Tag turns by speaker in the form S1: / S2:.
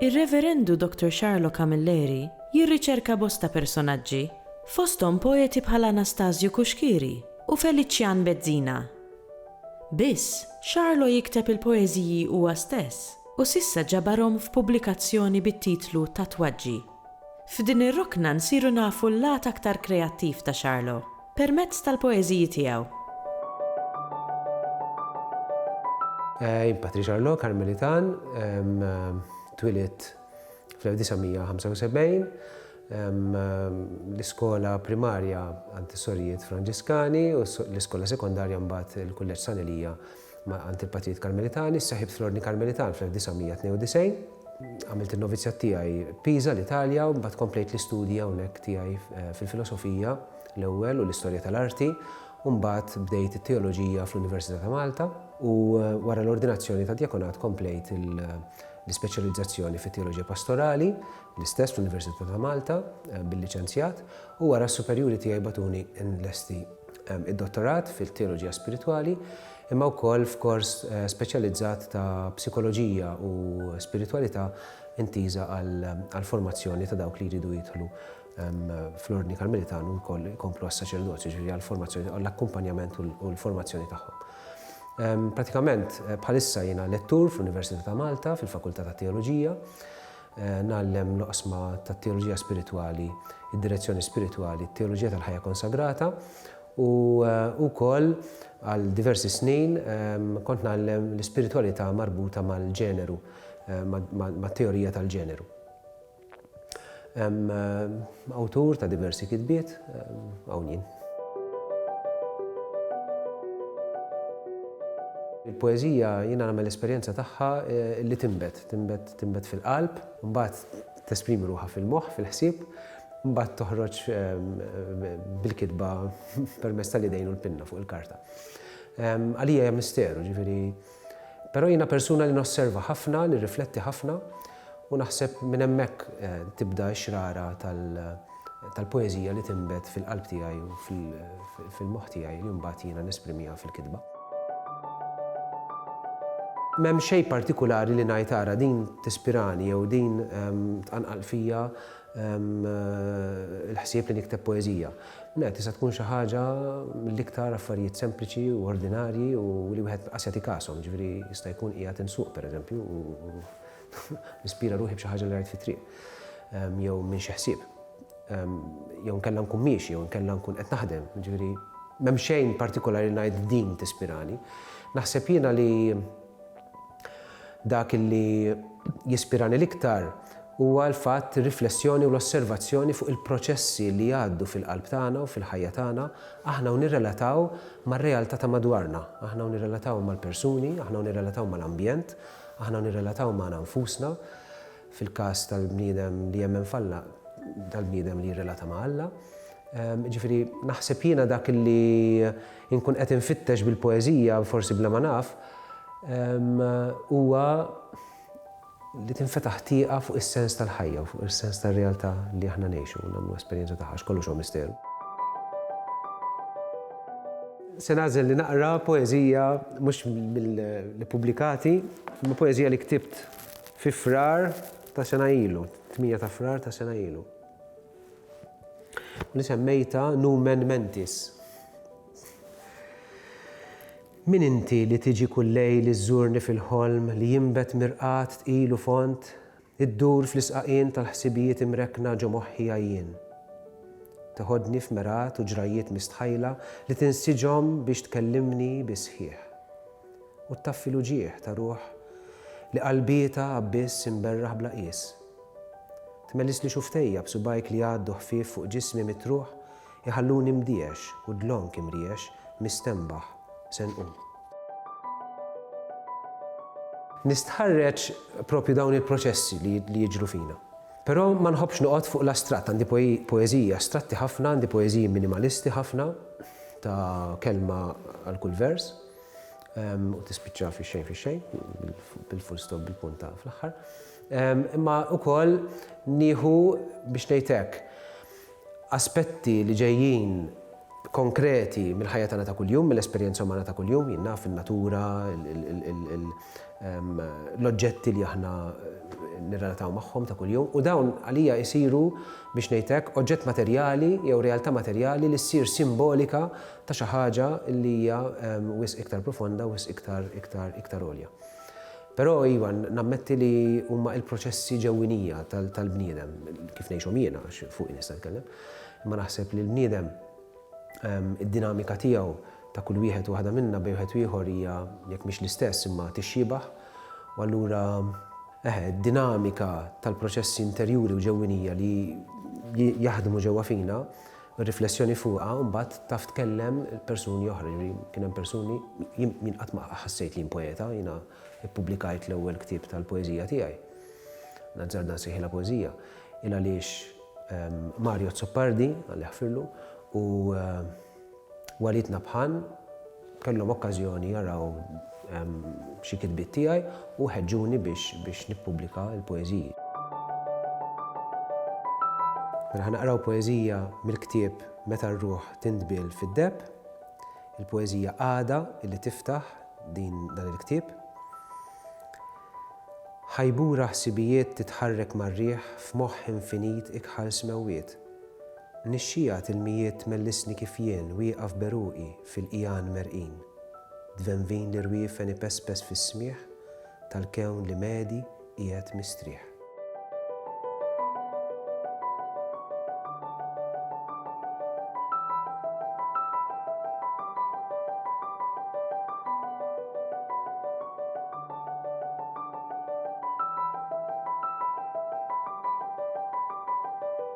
S1: Ir-Reverendu Doctor Xarlo Camilleri jirriċerka bosta personaġġi, fosthom poeti bħal Anastasju Cuschieri u Felician Bezzina. Biss, Xarlo jikteb il-poeżiji huwa stess. u s'issa ġabarhom f'pubblikazzjoni bit-titlu Tatwaġġi. F'din ir-rokna nsiru nafu l-lat aktar kreattiv ta' Charlo, permezz tal-poeżiji tiegħu.
S2: Jien Patri Charlo, Karmelitan, twielidt fl-1975. L-iskola primarja għand is-sorijiet Franġiskani u l-iskola sekondarja mbagħad il-Kulleġġ San Elija Ma' Antipatijiet Karmelitani, sseħħibt fl-Ordni Karmelitan fl-1992. Għamilt in-novizzjat tiegħi Pisa, l-Italja, u mbagħad komplejt l-istudji hawnhekk tiegħi fil-Filosofija l-ewwel u l-Istorja tal-Arti, u mbagħad bdejt it-Teoloġija fl-Università ta' Malta, u wara l-ordinazzjoni tad-djakonat komplejt l-ispeċjalizzazzjoni fit-Teoloġija Pastorali, l-istess fl-Università ta' Malta, bil-liċenzjat, u wara s-superjuri tiegħi bagħtuni nlesti d-dottorat fil-Teoloġija Spiritwali imma wkoll f'kors speċjalizzat ta' Psikoloġija u Spiritwalità intiża għall-formazzjoni ta' dawk li jridu jidħlu fl-Ordni Karmelitan u wkoll ikomplu għas-saċerdozju, ġifieri għall-formazzjoni, għall-akkumpanjament u l-formazzjoni tagħhom. Pratikament bħalissa jiena lettur fl-Università ta' Malta fil-Fakultà tat-Teoloġija ngħallem l-oqsma tat-teoloġija spiritwali, id-direzzjoni spiritwali, it-teoloġija tal-ħajja konsagrata u wkoll għal diversi snin kont ngħallem l-ispiritwalità marbuta mal-ġeneru, mat-teorija tal-ġeneru. Awtur ta' diversi kitbiet, hawn jien. Il-poeżija jiena nagħmel esperjenza tagħha li tinbet Tinbet, tinbet fil-qalb, imbagħad tesprimi ruħha fil-moħħ, fil-ħsieb, imbagħad toħroġ bil-kitba permezz tal-idejn u l-pinna fuq il-karta. Għalija hija misteru, ġifieri. Però jiena persuna li nosserva ħafna, nirrifletti ħafna u naħseb minn hemmhekk tibda x-xrara tal- tal-poeżija li tinbet fil-qalb tiegħi u fil-moħħ tiegħi li mbagħad jiena nesprimiha fil-kitba. M'hemm xejn partikulari li ngħid ara din tispirani jew din tqanqal fija l-ħsieb li nikteb poeżija. Le, tista' tkun xi ħaġa mill-iktar affarijiet sempliċi u ordinarji u li wieħed qas jagħti kasom, ġifieri jista' jkun qiegħed insuq pereżempju u Nispira ruħi b'xi ħaġa li rajt fit-triq, jew minn xi ħsieb, jew nkella nkun miexi, jew nkella nkun qed naħdem, ġifieri m'hemm xejn partikolari li ngħid din tispirani. Naħseb jiena li dak li jispirani l-iktar huwa l-fatt ir-riflessjoni u l-osservazzjoni fuq il-proċessi li jgħaddu fil-qalb tagħna u fil-ħajja tagħna, aħna u nirrelataw mar-realtà ta' madwarna, aħna u nirrelataw mal-persuni, aħna u nirrelataw mal-ambjent, Aħna nirrelataw magħna nfusna, fil-każ tal-bniedem li jemmen f'Alla, tal-bniedem li jirrelata ma' Alla. Jiġifieri, naħseb jiena dak li nkun qed infittex bil-poeżija, forsi bla ma naf, huwa li tinfetaħ tieqa fuq is-sens tal-ħajja u fuq is-sens tar-realtà li aħna ngħixu u nagħmlu esperjenza tagħha, għax kollox huwa misteru. Se nagħżel li naqra poeżija mhux mill-pubblikati, imma poeżija li ktibt fi Frar ta' sena ilu, 8 ta' Frar ta' sena ilu. Li semmejta Numen Mentis. Min inti li tiġi kull lejl iżżurni fil-ħolm li jinbet mirqad tqil u fond Iddur fl-isqaqien tal-ħsibijiet imrekkna ġo moħħija jien. Teħodni f'mergħat u ġrajjiet mistħajla li tinsiġhom biex tkellimni bi sħiħ. U ttaffi l-uġigħ ta' ruħ li qalbietha abbiss imberraħ bla qies. Tmellisli xuftejja b'subgħajk li jgħaddu ħfief fuq ġismi mitruħ Iħalluni mdiex u dlonk imriex, mistenbaħ se nqum. Nistħarreġ proprju dawn il-proċessi li jiġru fina. Però ma nħobbx noqgħod fuq l-astratt, għandi poeżiji astratti ħafna, għandi poeżiji minimalisti ħafna, ta' kelma għal kull vers, u tispiċċa fix-xejn fix-xejn, bil-full stop bil-punta fl-aħħar. Imma ukoll nieħu biex ngħid hekk, aspetti li ġejjin konkreti mill-ħajja tagħna ta' kuljum, mill-esperjenza umana ta' kuljum, jien naf, in-natura, l-oġġetti li aħna nirrelataw magħhom ta' kuljum, u dawn għalija jsiru, biex ngħid hekk, oġġett materjali jew realtà materjali li ssir simbolika ta' xi ħaġa li hija wisq iktar profonda, wisq iktar għolja. Però iva, nammetti li huma il-proċessi ġewwinija tal-bniedem, kif ngħixhom jiena għax fuqi nista' nitkellem, imma naħseb li l-bniedem id-dinamika tiegħu ta' kull wieħed u waħda minna bejn wieħed u ieħor hija jekk mhix l-istess imma tixxiebah u allura eħe, d-dinamika tal-proċessi interjuri u ġewwinija li jaħdmu ġewwa fina Riflessjoni fuqha mbagħad taf tkellem persuni oħra, jiġifieri kien hemm persuni, jien qatt ma ħassejt li jien poeta, jiena ppubblikajt l-ewwel ktieb tal-poeżija tiegħi, L-Azzarda nsejħilha poeżija, il għaliex Mario Azzopardi, Alla jaħfirlu, u Walid Nabhan, kellhom okkażjoni jaraw xi kitbiet tiegħi u ħeġġuni biex nippubblika l-poeżiji. Mela ħa naqraw poeżija mill-ktieb Meta r-ruħ tindbiel fid-deheb, il-poeżija Għada li tiftaħ din dan il-ktieb. Ħajbura ħsibijiet titħarrek mar-riħ f'moħħ infinit ikħal smewwiet. Nixxiegħa t'ilmijiet tmellisni kif jien wieqaf b'għeruqi Fil-qigħan merqin, dvenvin l-irwiefen ipespes fis-smigħ tal-kewn li medi qiegħed mistrieħ.